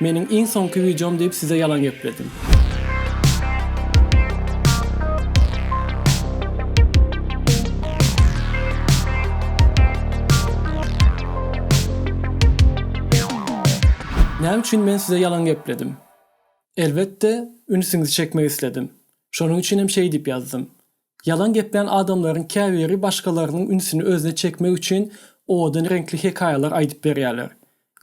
Meniň iň soňky wideom diýip size ýalan gepledim. Näme üçin men size ýalan gepledim? Elbetde, ünsüňizi çekmek isledim. Şonuň üçinem şeýdip ýazdym. Ýalan geplän adamlaryň käbiri başgalarynyň ünsüni özüne çekmek üçin owadan reňkli hekaýalar aýdyp berýärler.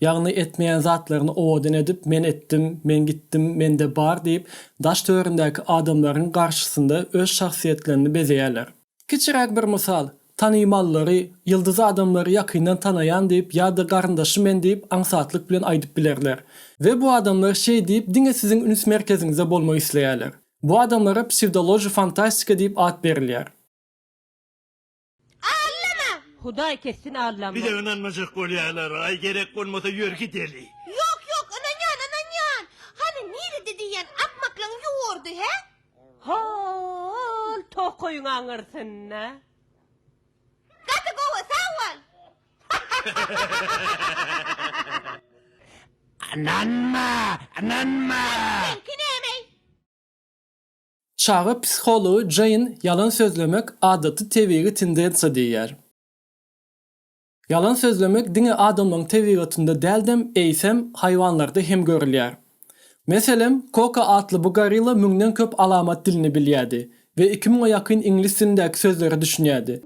Ýagny etmeýän zatlaryny owadan edip men etdim, men gitdim, mende bar diýip daş töründäki adamlaryň garşysynda öz şahsyýetlerini bezeýärler. Kiçiräk bir mysal, tanymallary, ýyldyz adamlary ýakyndan tanaýan diýip ýa-da garyndaşy men diýip aňsatlyk bilen aýdyp bilerler. We bu adamlar şeý diýip diňe siziň üns merkeziňizde bolmak isleýärler. Bu adamlara psewdology fantastika diýip at berilýär. Allama! Hudaý kessin Allama! Bize ynanmajak bolýalar aý gerek bolmasa ýörgi deli. Ýok ýok ynanýan ynanýan. Hany nirede diýýän akmaklygyň ýurdy hä? Hol tokaýyň aňyrsynda. Gaty gowy, sag bol! Ynanma! Ynanma! Seňki nämeý? Çaga psihology Jeýn ýalan sözlemek adaty tebigy tendensiýa diýýär. Ýalan sözlemek diňe adamlaryň tebigatynda däldem, eýsem, haýwanlarda hem görülýär. Meselem, Koko atly bu gorilla müňden köp alamat dilini bilýärdi we iki müňe ýakyn iňlis dilindäki sözlere düşünýärdi.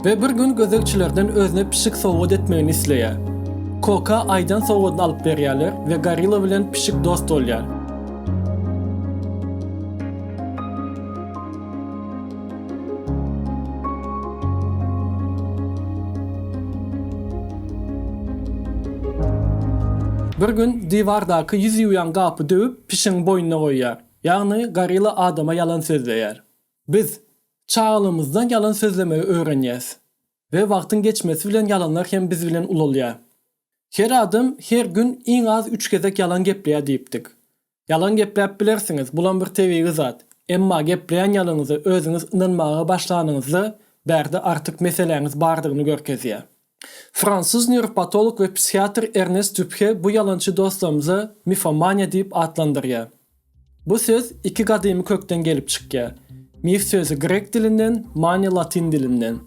We bir gün gözegçilerden özüne pişik sowgat etmegini isleýär. Koka aýdan sowgadyny alyp berýärler we gorilla bilen pişik dost bolýar. Bir gün diwardaky ýüz ýuwýan gapy döwüp, pişigiň boýnuna goýýar. Ýagny gorila adama ýalan sözleýär. Biz çagalygymyzdan ýalan sözlemegi öwrenýäs we wagtyň geçmesi bilen ýalanlar hem biz bilen ulalýar. Her adam her gün iň az üç gezek ýalan gepleýär diýipdik. Ýalan gepläp bilersiňiz, bulam bir tebigy zat. Emma gepleýän ýalanyňyza özüňiz ynanmaga başlanyňyzda bärde artyk meseläňiz bardygyny görkezýär. Fransuz nýuropatolog we psihiatr Ernest Dupre bu ýalançy dostlarymyza mifomaniýa diýip atlandyrýar. Bu söz iki gadymy kökden gelip çykýar. Mif sözi grek dilinden, maniýa latyn dilinden.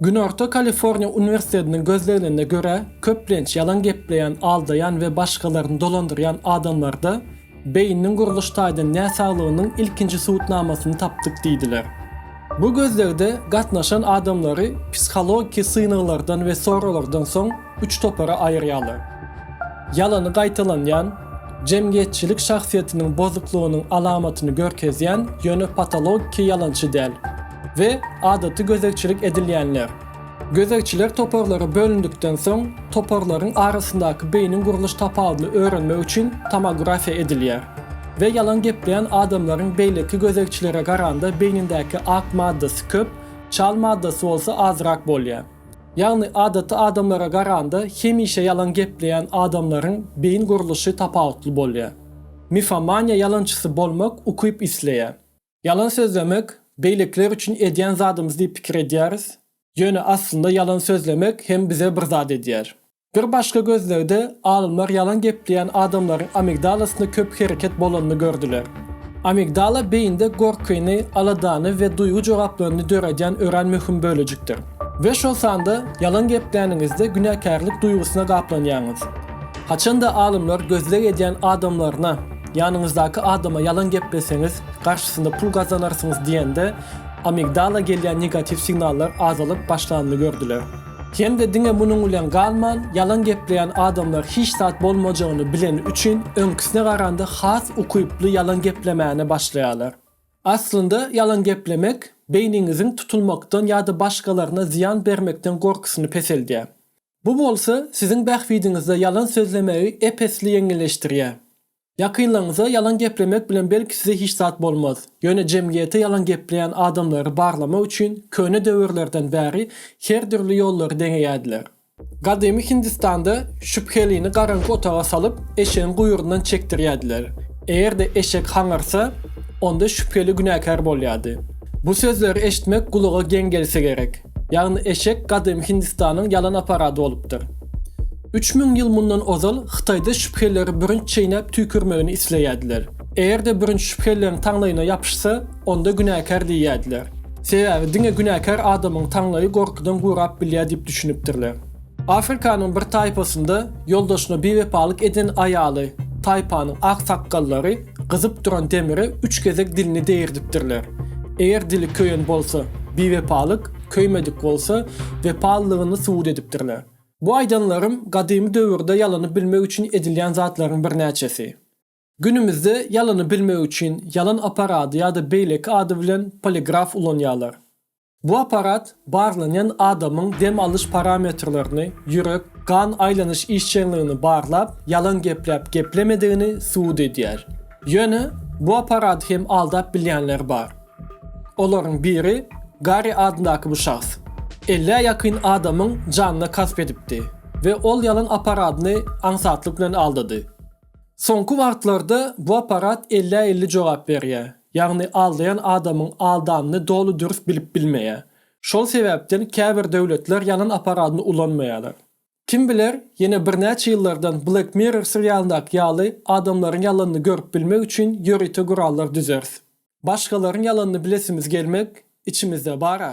Günorta Kaliforniýa uniwersitetiniň gözleglerine görä, köplenç ýalan gepleýän, aldaýan we başgalaryny dolandyrýan adamlarda Beýniniň gurluş taýdan näsaglygynyň ilkinji subutnamasyny tapdyk diýdiler. Bu gözlegde gatnaşan adamlary psihologiki synaglardan we soraglardan soň üç topara aýyrýarlar. Ýalany gaýtalanýan, jemgyýetçilik şahsyýetiniň bozuklygynyň alamatyny görkezýän, ýöne patologiki ýalançy däl, we adaty gözegçilik edilýänler. Gözegçiler toparlara bölündikden soň, toparlaryň arasyndaky beýniň gurluş tapawudyny öwrenmek üçin tomografiýa edilýär we ýalan gepleýän adamlaryň beýleki gözegçilere garanda beýnindäki ak maddasy köp, çal maddasy bolsa azrak bolýar. Ýagny adaty adamlara garanda hemişe ýalan gepleýän adamlaryň beýin gurluşy tapawutly bolýar. Mifomaniýa ýalançysy bolmak ukyp isleýär. Ýalan sözlemek, beýlekiler üçin edýän zadymyz diýip pikir edýäris, ýöne aslynda ýalan sözlemek hem bize bir zat edýär. Bir başga gözlegde alymlar ýalan gepleýän adamlaryň amigdalasynda köp hereket bolanyny gördüler. Amigdala beýinde gorkyny, aladany we duýgy jogaplaryny döredýän örän möhüm bölejikdir. We şol sanda ýalan gepläniňizde günäkärlik duýgusyna gaplanýaňyz. Haçan-da alymlar gözleg edýän adamlaryna, Ýanyňyzdaky adama ýalan gepleseňiz, garşysynda pul gazanarsyňyz diýende, amigdala gelýän negatiw signallar azalyp başlanyny gördüler. Hem-de diňe munuň bilen galman, ýalan gepleýän adamlar hiç zat bolmajagyny bileni üçin, öňküsine garanda has ukyply ýalan geplemäne başlaýarlar. Aslynda, ýalan geplemek beýniňiziň tutulmakdan ýa-da başgalaryna zyýan bermekden gorkusyny peseldýär. Bu bolsa siziň bähbidiňizde ýalan sözlemegi ep-esli ýeňilleşdirýär. Ýakynlaryňyza ýalan geplemek bilen belki size hiç zat bolmaz, ýöne jemgyýete ýalan gepleýän adamlary barlamak üçin köne döwürlerden bäri her dürli ýollary deneýärdiler. Gadymy Hindistanda şübhelini garaňky otaga salyp, eşegiň guýrundan çekdirýärdiler. Eger-de eşek haňyrsa, onda şübheli günäkär bolýardy. Bu sözleri eşitmek gulaga geň gelse gerek. Ýagny eşek gadymy Hindistanyň ýalan aparady bolupdyr. Üç müň ýyl mundan ozal Hytaýda şübheleri bürünç çeýnäp tüýkürmegini isleýärdiler. Eger-de bürünç şübhelileriň taňlaýyna ýapyşsa, onda günäkär diýýärdiler. Sebäbi diňe günäkär adamyň taňlaýy gorkudan gurap bilýär diýip düşünipdirler. Afrikanyň bir taýpasynda ýoldaşyna biwepalyk eden aýaly, taýpanyň aksakgallary gyzyp duran demire üç gezek dilini degirdipdirler. Eger dili köýen bolsa, biwepalyk, köýmedik bolsa, wepalylygyny subut edipdirler. Bu aýdanlarym gadymy döwürde ýalanyp bilmek üçin edilýän zatlaryň birnäçesi. Günümizde ýalany bilmek üçin ýalan apparady ýa-da beýleki ady bilen poligraf ulanýarlar. Bu apparat barlanýan adamyň dem alyş parametrlerini, ýürek, gan aýlanyş işjeňligini barlap, ýalan gepläp geplemedigini subut edýär. Ýöne bu apparady hem aldap bilýänler bar. Olaryň biri Garri adyndaky bu şahs ellä ýakyn adamyň janyna kasp edipdi we ol ýalan apparadyny aňsatlyk bilen aldady. Soňky wagtlarda bu apparat ellä-elli jogap berýär, ýagny aldaýan adamyň aldanyny doly dürs bilip bilmeýär. Şol sebäpden käbir döwletler ýalan apparadyny ulanmaýarlar. Kim biler, ýene birnäçe ýyllardan Black Mirror serialyndaky ýaly adamlaryň ýalanyny görüp bilmek üçin ýörite gurallar düzeris. Başgalaryň ýalanyny bilesimiz gelmek içimizde bar-a.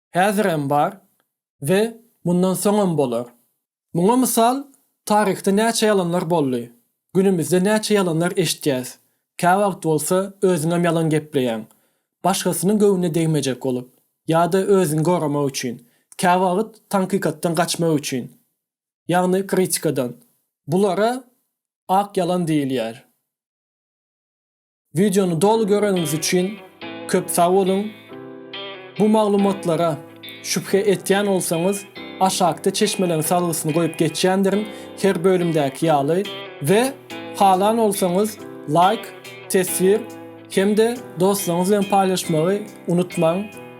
häzir hem bar we mundan soňam bolar. Muňa mysal, taryhda näçe ýalanlar boldy, günümizde näçe ýalanlar eşitýäs, käwagt bolsa özüňem ýalan gepleýäň, başgasynyň göwnüne degmejek bolup, ýa-da özüňi goramak üçin, käwagt tankykatdan gaçmak üçin, ýagny kritikadan. Bulara ak ýalan diýilýär. Wideony doly göreniňiz üçin köp sag boluň! Bu maglumatlara şübhe etýän bolsaňyz, aşakda çeşmeleriň salgysyny goýup geçýändirin, her bölümdäki ýaly, we halan bolsaňyz laýk, teswir, hem-de dostlaryňyz bilen paýlaşmagy unutmaň!